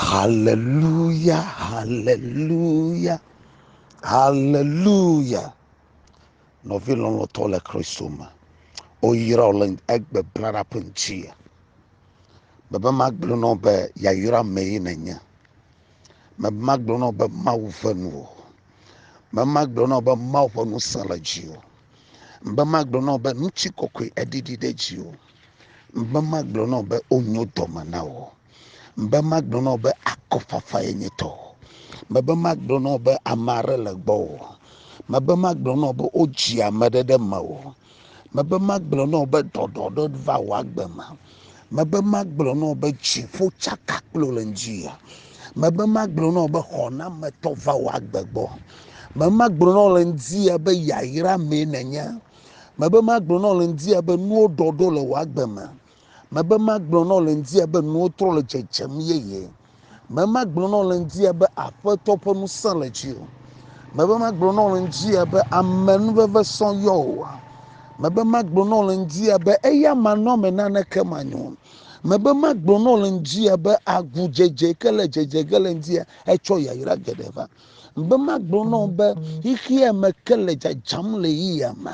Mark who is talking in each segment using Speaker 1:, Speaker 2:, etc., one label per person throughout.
Speaker 1: Haleluya, haleluya, haleluya. Nɔvi lɔlɔ̃tɔ le Kristo me. Woyra wò le egbe blana ƒe ŋuti. Bebe magblɔ nɔ be yayra mee nènye. Memagblɔ na wò be Mawu ʋe nu o. Memagblɔ na wò be Mawu ƒe ŋusẽ le dzi o. Memagblɔ na wò be nu tsi kɔkɔe eɖiɖi ɖe dzi o. Memagblɔ na wò be wonyo dɔme na wò. Memagblɔ na wò be akɔfafa ye nye tɔ. Memagblɔ na wò be ame aɖe le gbɔ o. Memagblɔ na wò be wodzi ame aɖe ɖe me o. Mebe magblɔ na wò be ɖɔɖɔ ɖe va wò agbe me. Mebe magblɔ na wò be dziƒo tsaka kple wò le ŋdziya. Mebe magblɔ na wò be xɔnametɔ va wò agbe gbɔ. Mebe magblɔ na wò le ŋdziya be yayra mee nènye. Mebe magblɔ na wò le ŋdziya be nuwo ɖɔɖɔ le wò agbe me. Mebe magblɔ na wò le ŋdia be nuwo trɔ le dzedzem yeye. Mebe magblɔ na wò le ŋdia be Aƒetɔ ƒe ŋusẽ le dzi o. Mebe magblɔ na wò le ŋdia be ame nuveve sɔ yɔ oa. Mebe magblɔ na wò le ŋdia be eya manɔame naneke manyo o. Mebe magblɔ na wò le ŋdia be agudzedze ke le dzedze ge le ŋdia etsɔ yayra geɖe va. Be magblɔ na wo be xexea me ke le dzadzam le ɣeyiɣia me,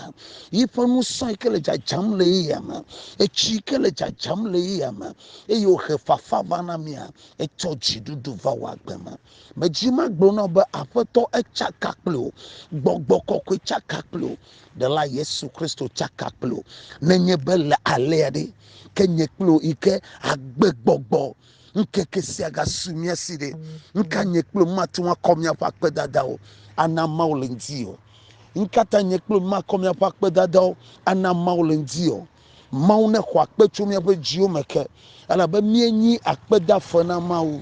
Speaker 1: yiƒe ŋusẽ ke le dzadzam le ɣeyiɣia me, etsi ke le dzadzam le ɣeyiɣia me, eye wòhe fafa va na mía, etsɔ dziɖuɖu va wò agbe me. Medzi magblɔ na wò be, Aƒetɔ, etsaka kpli wò, gbɔgbɔ kɔkɔe tsaka kpli wò, Ɖela Yesu Kristo tsaka kpli wò. Nenye be le alea ɖe, ke nye kpli wò yi ke agbe gbɔgbɔ Ŋkeke sia gasu mía si ɖe. Ŋka nye kple mate ŋu akɔ míaƒe akpedadawo ana Mawu le ŋdi o? Ŋka ta nye kple makɔ míaƒe akpedadawo ana Mawu le ŋdi o? Mawu nexɔ akpe tso míaƒe dziwo me ke, elabe míenyi akpedafe na Mawu.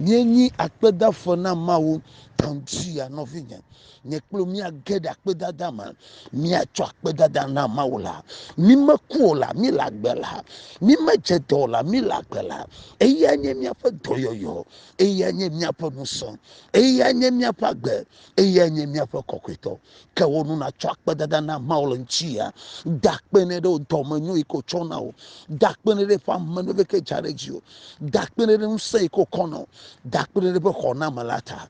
Speaker 1: Míenyi akpedafe na Mawu. Tɔntia, nɔvinye, nye kple míage ɖe akpedada me míatsɔ akpedada na mawu la mímeku o la míle agbe la mímedze dɔ o la míle agbe la eya nye míaƒe dɔyɔyɔ eya nye míaƒe nusɔ eya nye míaƒe agbe eya nye míaƒe kɔkɔetɔ ke wo nu natsɔ akpedada na mawu le ŋuti ya da akpe ne ɖe wo dɔme nyo yi ko tsɔ na wo da akpe ne ɖe ƒe ame ne ɖe ke dza ɖe dzi o da akpe ne ɖe ŋusẽ yi ko kɔ na wo da akpe ne ɖe ƒe xɔ na me la ta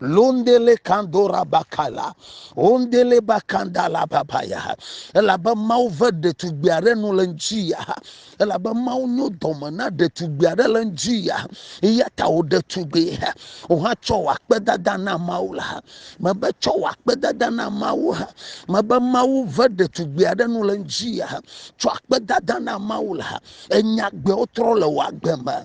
Speaker 1: Londele kandora bakala, ondele bakandala babaya. Elabe Mawu ve ɖetugbui aɖe nu le ŋdi ya. Elabe Mawu nyo dɔme na ɖetugbui aɖe le ŋdi ya. Eya ta wò ɖetugbui, wò hã tsɔ wò akpedada na Mawu la. Mebe tsɔ wò akpedada na Mawu. Mebe Mawu ve ɖetugbui aɖe nu le ŋdi ya. Tsɔ akpedada na Mawu la. Enya gbewo trɔ le wò agbe me.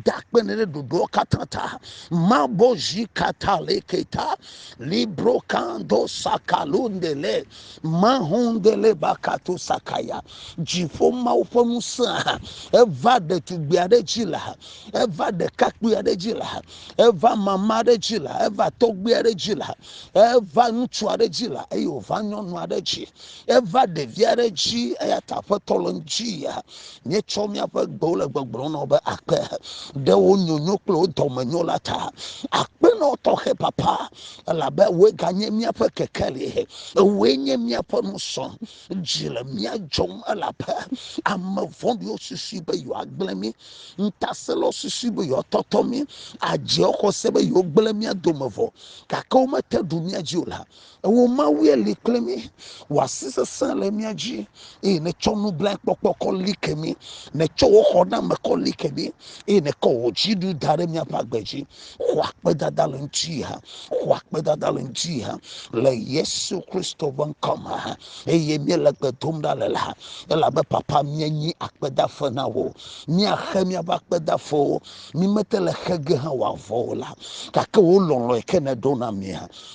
Speaker 1: Da akpe ne ɖe ɖoɖowo katã ta. Mabo zi kata le keta. Libro kando sakalunde le. Mahunde le bakato sakaya. Dziƒo mawo ƒe ŋusẽa. Eva ɖetugbui aɖe dzi la. Eva ɖekakpui aɖe dzi la. Eva mama aɖe dzi la. Eva tɔgbui aɖe dzi la. Eva ŋutsu aɖe dzi la. Eye wòva nyɔnu aɖe dzi. eva ɖevi aɖe dzi eya ta aƒetɔ le ŋuti míetsɔ míaƒe gbewo le gbɔgblɔm nɔ be akpe ɖe wo nyonyo kple wo dɔmenyo la ta akpe nɔ tɔxɛ papa elabe woe ganye míaƒe kekeli ewoe nye míaƒe nusɔ dzi le mía dzɔm elabe ame vɔɖiwo susu be yewoagblẽ mí ŋutasẽlawo susu be yewoatɔtɔ mí adze xɔse be yewogblẽ mía dome vɔ gake womete ɖu mía dzi o la Ewò Mawue li kple mí, wò asi sesẽ le mía dzi, eye nètsɔ nublankpɔkpɔ kɔ li ke mí. Nètsɔ wò xɔname kɔ li ke mí, eye nèkɔ wò dziɖuɖu da ɖe míaƒe agbe dzi. Xɔ akpedada le ŋutiwò ha, xɔ akpedada le ŋutiwò ha, le Yesu Kristo ƒe ŋkɔ me ha, eye míele gbe dom ɖa le la, elabe Papa, míenyi akpedafe na wò. Míaxe míaƒe akpedafewo, mímete le xe ge hã wòavɔ o la, gake wò lɔlɔ̃e ke nèɖo na mía.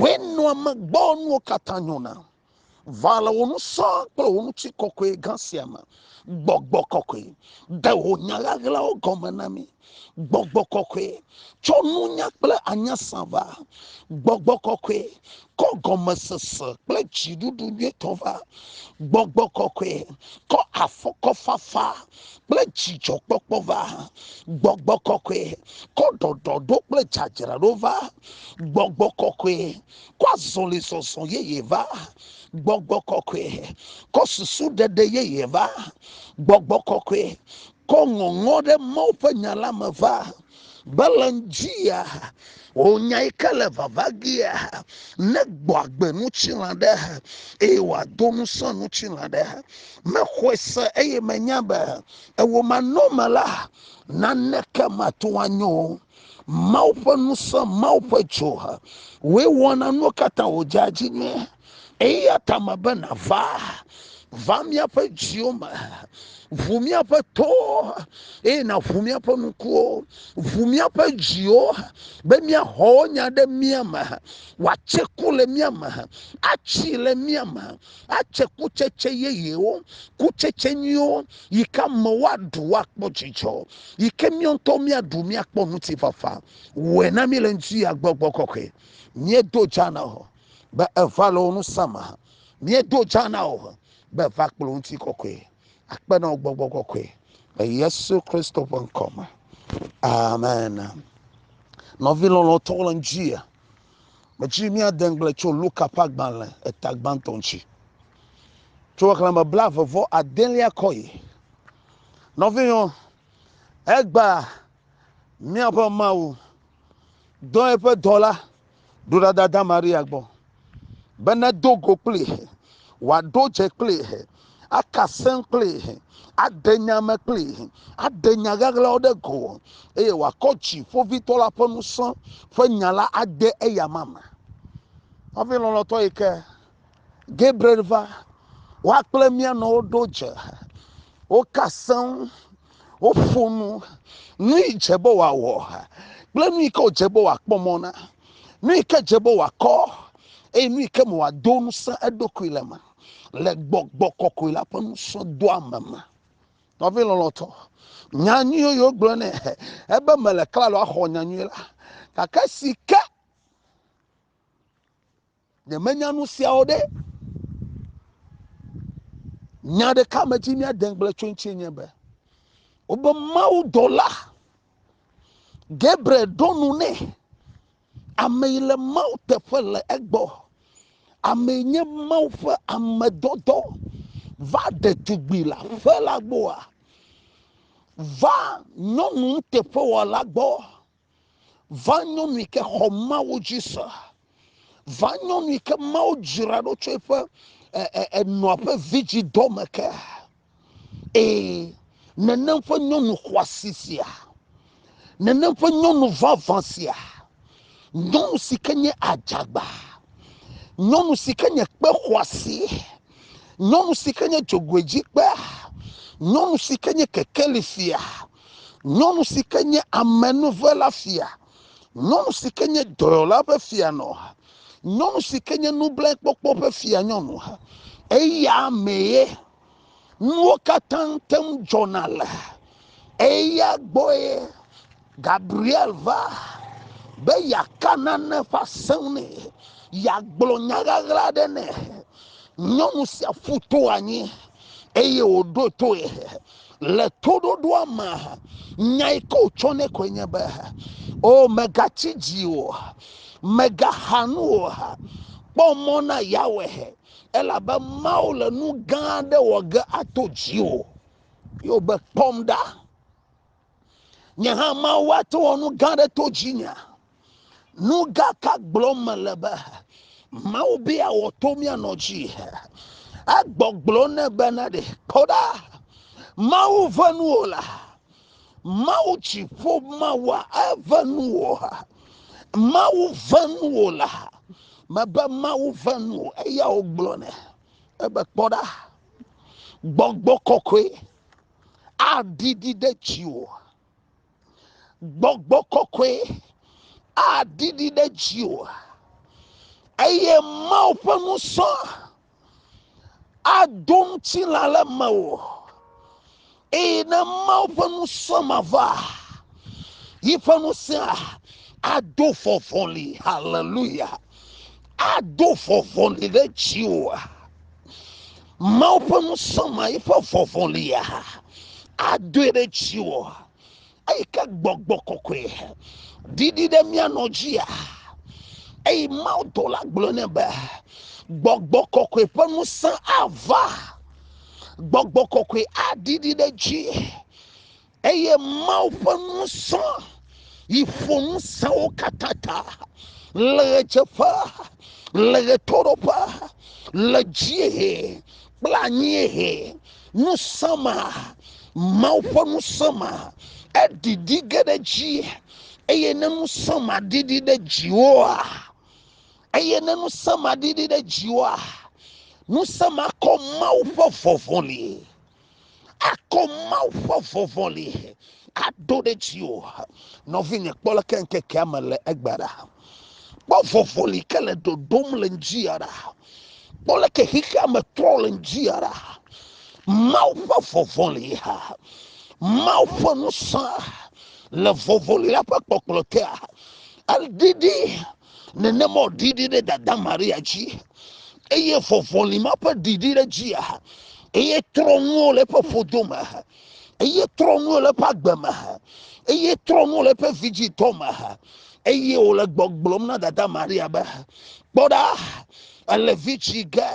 Speaker 1: Wòe nɔa ame gbɔ nuwo katã nyona. Va le wò nusɔ kple wò ŋuti kɔkɔe gã sia me. Gbɔgbɔ kɔkɔe, de wò nya ɣaɣlawo gɔme na mi. Gbɔgbɔ kɔkɔe, tsɔ nunya kple anyasã va. Gbɔgbɔ kɔkɔe, kɔ gɔmesese kple dziɖuɖu nyuitɔ va. Gbɔgbɔ kɔkɔe, kɔ afɔkɔfafa kple dzidzɔkpɔkpɔ va gbɔgbɔ kɔkɔe kɔ ɖɔɖɔ ɖo kple dzadzraɖo va gbɔgbɔ kɔkɔe kɔ azɔli zɔzɔ yeye va gbɔgbɔ kɔkɔe kɔ susu ɖeɖe yeye va gbɔgbɔ kɔkɔe kɔ ŋɔŋɔ ɖe mɔwo ƒe nya la me va Balaam dzia wònya yi ke le vava gea negbɔ agbe ŋutilã ɖe eye wòado ŋusẽ ŋutilã ɖe. Mexɔe se eye menya be ewo manɔme la naneke mate ŋu anyo. Mawu ƒe ŋusẽ, Mawu ƒe dzo, wòe wɔna nuwo katã wòdzea dzi nyuie. eya ta mebe nàva va míaƒe dziwo me ʋu míaƒe towo eye nàʋu míaƒe nukuwo ʋu míaƒe dziwo be míaxɔ wo nya ɖe mía me wòatse ku le mía me atsi le mía me atse kutsetse yeyewo kutsetse nyuiwo yi ke amewo aɖu woakpɔ dzidzɔ yi ke míawo ŋutɔ míaɖu míakpɔ ŋutifafa wɔe na mí le ŋuti ya gbɔgbɔ kɔkɔe míedo dza na hɔ be eva le wo nu sam hã míedo dza na wo hã be va kple ŋuti kɔkɔe akpe na wo gbɔgbɔ kɔkɔe le yesu kristo ƒe ŋkɔ me amen nɔvi lɔlɔtɔ le ŋdzia medzi míade ŋgble tso luka ƒe agbalẽ eta gbãtɔ ŋuti tso xexlẽme bla eve vɔ adelia kɔ yi nɔvinyɔ egba míaƒe mawu dɔ eƒe dɔla Ɖo ɖada da Maria gbɔ, be nedo go kpli, wòaɖo dze kpli, aka sẽŋ kpli, aɖe nya me kpli, aɖe nya ɣaɣlawo ɖe go, eye wòakɔ dziƒovitɔ la ƒe ŋusẽ ƒe nya la ade eya ma me. Nɔvi lɔlɔ̃tɔ yi ke Gabriel va, wa kple mía nɔ woɖo dze, woka seŋ, woƒo nu, nu yi dze be wòawɔ kple nu yi ke wòdze be wòakpɔ mɔ na, nu yi ke dze be wòakɔ eye nu yi ke me wòado ŋusẽ eɖokui le me le gbɔgbɔ kɔkɔe la ƒe nusɔdoame me. Nɔvi lɔlɔ̃tɔ, nya nyuiwo yi wogblɔ nɛ ebe mele klalo axɔ nya nyui la, gake si ke Ne menya nu siawo ɖe, nya ɖeka me dzi míade ŋugble tso ŋuti nye be, wobe Mawu dɔla Gabriel ɖo nu nɛ. Ame yi le Mawu teƒe le egbɔ. Ame yi nye Mawu ƒe ame dɔdɔ va ɖe tugbui le aƒe la gbɔa. Va nyɔnu nuteƒewɔla gbɔ. va nyɔnui ke xɔ mawo dzi se va nyɔnui ke mawo dzra ɖo tso eƒe enɔa ƒe vidzi dɔ me ke ee nenem ƒe nyɔnu xɔasi sia nenem ƒe nyɔnu vavã sia nyɔnu si ke nye adzagba nyɔnu si ke nye kpe xɔasi nyɔnu si ke nye dzogoedzikpea, nyɔnu si ke nye kekeli fia, nyɔnu si ke nye amenuve la fia, nyɔnu si ke nye dɔyɔla ƒe fia nɔ, nyɔnu si ke nye nublankpɔkpɔ ƒe fia nyɔnu. Eya mee nuwo katã te ŋu dzɔna le, eya gbɔe Gabriel va be yeaka nane ƒe asem nɛ, yeagblɔ nya ɣaɣla aɖe nɛ. Nyɔnu sia ƒu to anyi eye wòɖo toe. Le toɖoɖoa me, nya yi ke wòtsɔ nɛ koe nye be, o megatsi dzi o, megaxa nu o, kpɔ mɔ na Yawe, elabe Mawu le nu gã aɖe wɔ ge ato dziwò. Yob be, Kpɔm ɖa. nye hã mawu ate wɔ nu gã aɖe to dzinye nu gã ka gblɔm mele be mawu be awɔ to mianɔ dzi egbɔgblɔ ne bena ɖe kpɔ ɖa mawu ve nu o la mawu dziƒo mawua eve nu o mawu ve nu o la mebe mawu ve nu o eya wogblɔ ne ebe kpɔ ɖa gbɔgbɔ kɔkɔe aɖiɖi ɖe dziwò. Gbɔgbɔ kɔkɔe aɖiɖi ɖe dziwò. Eye Mawu ƒe ŋusɔ ado ŋutilã le mewò. Eye ne Mawu ƒe ŋusɔ ma va, yi ƒe ŋusẽ ado vɔvɔli. Haleluya. Ado vɔvɔli ɖe dziwò. mawo ƒe ŋusẽ ma yi ƒe vɔvɔlia adoe ɖe dziwò eyi ke gbɔgbɔ kɔkɔe ɖiɖi ɖe mía nɔ dzia eyi mawo dɔla gblɔ ne be gbɔgbɔ kɔkɔe ƒe ŋusẽ ava gbɔgbɔ kɔkɔe aɖiɖi ɖe dzi eye Mawu ƒe nuwo sɔ yi ƒo ŋusẽwo katã ta le ɣedzeƒe, le ɣetoɖoƒe, le dziehe kple anyiehe. Ŋusẽ ma, Mawu ƒe ŋusẽ ma, eɖiɖi ge ɖe dzi eye ne ŋusẽ ma ɖiɖi ɖe dziwoa, eye ne ŋusẽ ma ɖiɖi ɖe dziwoa, ŋusẽ ma kɔ Mawu ƒe vɔvɔ̃ li. Akɔ Mawu ƒe vɔvɔli aɖo ɖe dziwò. Nɔvinye, kpɔ leke ŋkekea me le egbe ɖa. Kpɔ vɔvɔli ke le ɖoɖom le ŋdzia ɖa. Kpɔ leke xexea me trɔ le ŋdzia ɖa. Mawu ƒe vɔvɔli ha. Mawu ƒe ŋusẽ le vɔvɔli la ƒe kpɔkplɔ tea. Eɖiɖi nenema wòɖiɖi ɖe dada maria dzi eye vɔvɔli ma ƒe ɖiɖi ɖe dzia eye trɔ nuwo le eƒe ƒodo me eye trɔ nuwo le eƒe agbe me eye trɔ nuwo le eƒe vidzitɔ me eye wòle gbɔgblɔm na dada maria be kpɔ ɖa ele vi tsi ge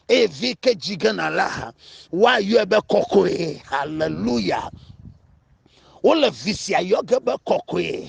Speaker 1: eye vi ke dzi ge na la woayɔe be kɔkɔe haleluya wole vi sia yɔ ge be kɔkɔe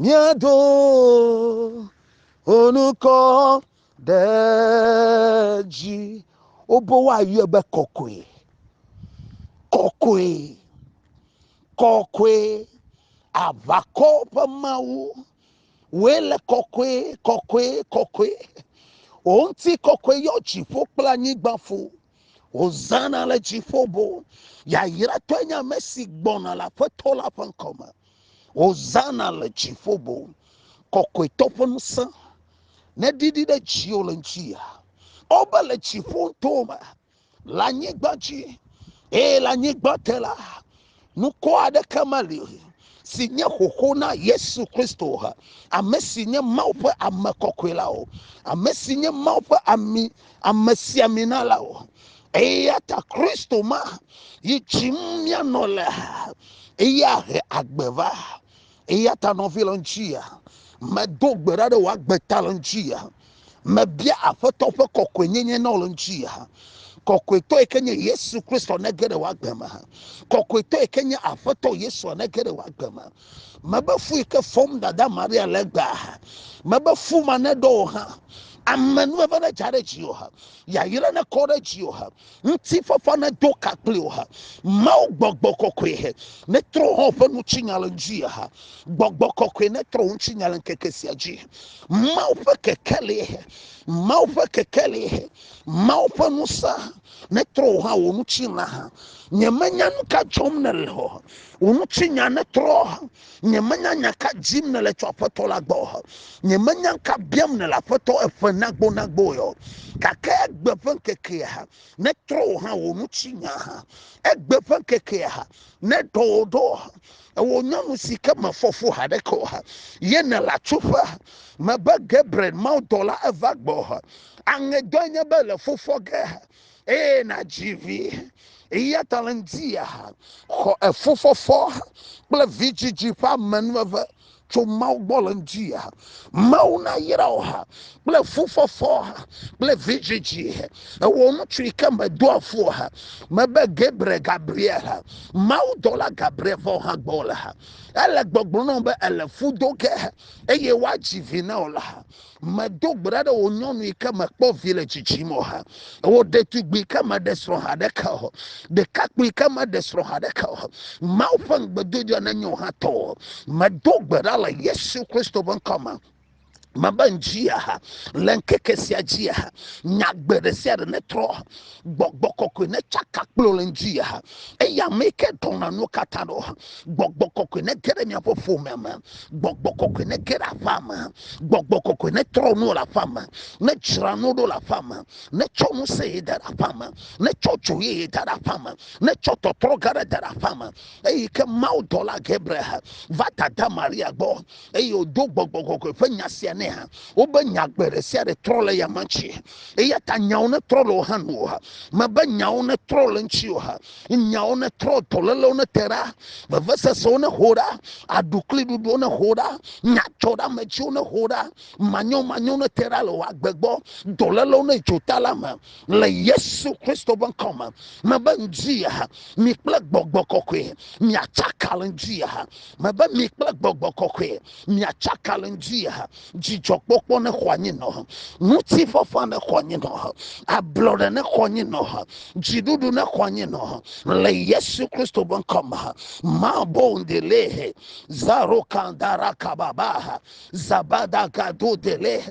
Speaker 1: Míado wò ŋkɔ ɖe dzi. Wobe woayɔe be kɔkɔe. Kɔkɔe. Kɔkɔe. Aʋakɔ ƒe Mawu. Wòe le kɔkɔe, kɔkɔe, kɔkɔe. Wò ŋuti kɔkɔe yɔ dziƒo kple anyigba ƒo. Hosanna le dziƒo bo. Yayratɔe nye ame si gbɔna le Aƒetɔ la ƒe ŋkɔ me. Hosanna le dziƒo bo. Kɔkɔetɔ ƒe ŋusẽ neɖiɖi ɖe dziwò le ŋuti ya. Wobe le dziƒo to me, le anyigba dzi, eye le anyigba te la, Nukɔ aɖeke meli si nye xoxo na Yesu Kristo, ame si nye Mawu ƒe ame kɔkɔe la o, ame si nye Mawu ƒe ami ame sia ami na la o. Eya ta Kristo ma yi dzim míanɔ le eya he agbe va. Eya ta nɔvi le ŋutia, medo gbe ɖa ɖe wò agbe ta le ŋutia. Mebia Aƒetɔ ƒe kɔkɔenyenye na wò le ŋutia. Kɔkɔetɔ yi ke nye Yesu Kristo nege ɖe wò agbe me. Kɔkɔetɔ yi ke nye Aƒetɔ Yesu nege ɖe wò agbe me. Mebe fu yi ke fɔm dada Maria le gbea, mebe fu ma neɖɔ wò hã. Amenuveve nedza ɖe dziwò ha, yayra nekɔ ɖe dziwò ha, ŋutifafa nedo ka kpli o ha mawu gbɔgbɔ kɔkɔe he netrɔ hɔn ƒe ŋutinya le dzi ha gbɔgbɔ kɔkɔe netrɔ ŋutinya le ŋkeke sia dzi mawu ƒe kekeli he mawu ƒe kekeli he mawu ƒe ŋusã netrɔ hã wò ŋutinya ha nyemenya nu ka dzɔm nele o wò ŋutinya netrɔ ha Nyemenya nya ka dzim nèle tso Aƒetɔ la gbɔ o. Nyemenya ka biam nèle Aƒetɔ eƒe nagbonagbo o. Gake egbe ƒe ŋkekea netrɔ wò hã wò ŋuti nya. Egbe ƒe ŋkekea neɖɔ wò ɖo. Ewò nyɔnu si ke mefɔ fu haɖeke o, ye nèle atsuƒe. Mebe Gabriel mawudɔla eva gbɔ. Aŋedɔe nye be le fu fɔ ge. eye nadzi vi eya ta le ŋdia xɔ efufɔfɔ kple vidzidzi ƒe amenuveve tso mawu gbɔ le ŋdia mawu nayra wo ha kple fufɔfɔ kple vidzidzi ewɔ ŋutsu yi ke medoa fu ha mebe gabriel gabriel ha mawu dɔla gabriel vɔ ha gbɔ le ha ele gbɔgblɔ na wo be ele fu do ge eye woadzi vi na wo le ha medo gbe ɖa ɖe wò nyɔnu yi ke mekpɔ vi le dzidzim o ha wò ɖetugbui yi ke meɖe srɔ̃ ha ɖeke o ɖekakpui yi ke meɖe srɔ̃ ha ɖeke o mawu ƒe ŋugbedodoa nenye wò hã tɔ o medo gbe ɖa le yesu kristo ƒe ŋkɔ me mebe ŋdzia ha le ŋkeke sia dzia ha nyagbe ɖe sia ɖe netrɔ Gbɔgbɔ kɔkɔe ne tsaka kplɔ le ŋdi ya eye ame ke dɔna nu katã ɖo. Gbɔgbɔ kɔkɔe ne ge ɖe miaƒe ƒome me. Gbɔgbɔ kɔkɔe ne ge ɖe aƒea me. Gbɔgbɔ kɔkɔe ne trɔ nu le aƒea me. Ne dzra nu ɖo le aƒea me. Ne tsɔ ŋusẽ ye da ɖe aƒea me. Ne tsɔ dzo yeye da ɖe aƒea me. Ne tsɔ tɔtrɔ ga ɖe da ɖe aƒea me. Eyi ke mawudɔla Gabriel va dada Maria gbɔ. eye wodo gbɔgbɔ kɔkɔe ƒe nya sia nɛ hã wobe nya gbe ɖe sia ɖe trɔ le yame ŋuti eya ta nyawo ne trɔ le wo hã nu o ha mebe nyawo ne trɔ le ŋuti o ha nyawo ne trɔ dɔlélewo ne te ɖa vevesesewo ne ho ɖa aɖukli ɖuɖuwo ne ho ɖa nyadzɔɖametsiwo ne ho ɖa manyomanyo ne te ɖa le wòa gbe gbɔ dɔlélewo ne dzo ta la me le yesu kristo ƒe ŋkɔ me mebe ŋdi ha mi kple gbɔgbɔ kɔkɔe miatsaka le ŋdi ha mebe mi kple gbɔgbɔ kɔkɔe miatsa kale ŋdzi dzidzɔkpɔkpɔ ne xɔ anyi nɔ ŋutifafa ne xɔ anyi nɔ ablɔɖe ne xɔ anyi nɔ dziɖuɖu ne xɔ anyi nɔ le yesu kristo be ŋkɔ me mabondelehe zarokandarakababa zabadagado delehe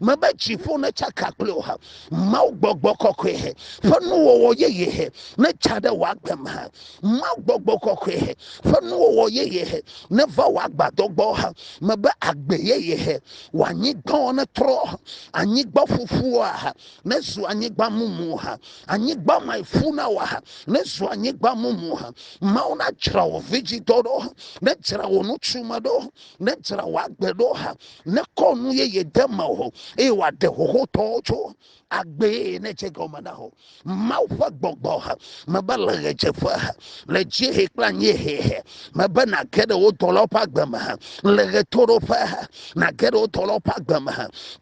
Speaker 1: mebe dziƒo ne tsaka kple o ha mawu gbɔgbɔ kɔkɔe he ƒe nuwɔwɔ yeye he ne tsa ɖe wò agbe me ha mawu gbɔgbɔ kɔkɔe he ƒe nuwɔwɔ yeye he ne va wò agbadɔ gbɔ ha mebe agbe yeye he wò anyigba ne trɔ anyigba ƒuƒua ha ne zu anyigba mumu ha anyigba ma ƒu na wɔ ha ne zu anyigba mumu ha mawu na dzra wò vidzidɔ ɖo ne dzra wò ŋutsu me ɖo ne dzra wò agbe ɖo ha nekɔ nu yeye de me o eye wòaɖe xoxotɔwo tso agbee ne dze gɔme na o mawu ƒe gbɔgbɔ mebe le ɣedzeƒe le dziehe kple anyiehe mebe nage ɖe wo dɔlawo ƒe agbe me le ɣetoɖoƒe nage ɖe wo dɔlawo ƒe agbe me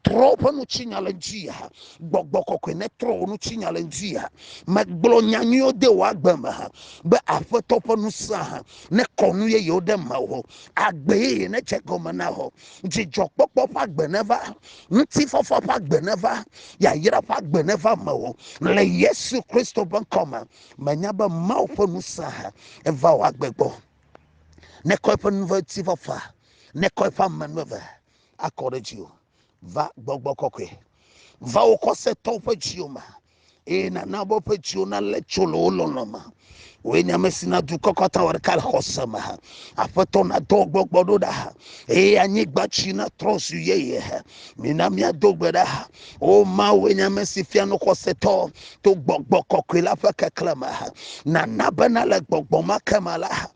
Speaker 1: trɔ woƒe nutsinya le ŋdi gbɔgbɔ kɔkɔe ne trɔ wo nutsinya le ŋdi megblɔ nyanyuiwo de wo agbe me be aƒetɔ ƒe nusẽ ne kɔ nu yeyewo ɖe me o agbee nedze gɔme na wò dzidzɔkpɔkpɔ ƒe agbe neva ŋutifafa ƒe agbe neva yayra ƒe agbe neva me o le yesu kristo ƒe ŋkɔ me menya be mawu ƒe ŋusẽ ha eva wò agbe gbɔ nekɔ eƒe nuvetsifafa nekɔ eƒe amenuve akɔ ɖe dzi o va gbɔgbɔ kɔkɔe va wo xɔsetɔwo ƒe dziwo me eye nana be woƒe dziwo nalé tso le wo lɔlɔ̃ me wòye nye ame si na dukɔ kɔta wɔ ɖeka le xɔse me ha aƒetɔ nadɔ gbɔgbɔ ɖo ɖa ha eye anyigba tsi natrɔ zu yeye ha mina míado gbe ɖa ha o mawue nye ame si fia no xɔsetɔ to gbɔgbɔ kɔkɔe la ƒe keklẽ me ha nana bena le gbɔgbɔ ma ke me la ha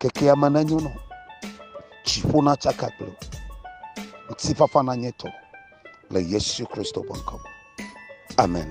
Speaker 1: Kekea me na nyo nɔ, dziƒo na tsaka kpli, ŋuti fafa na nye tɔ le Yesu Kristo ƒe ŋkɔ me. Amen.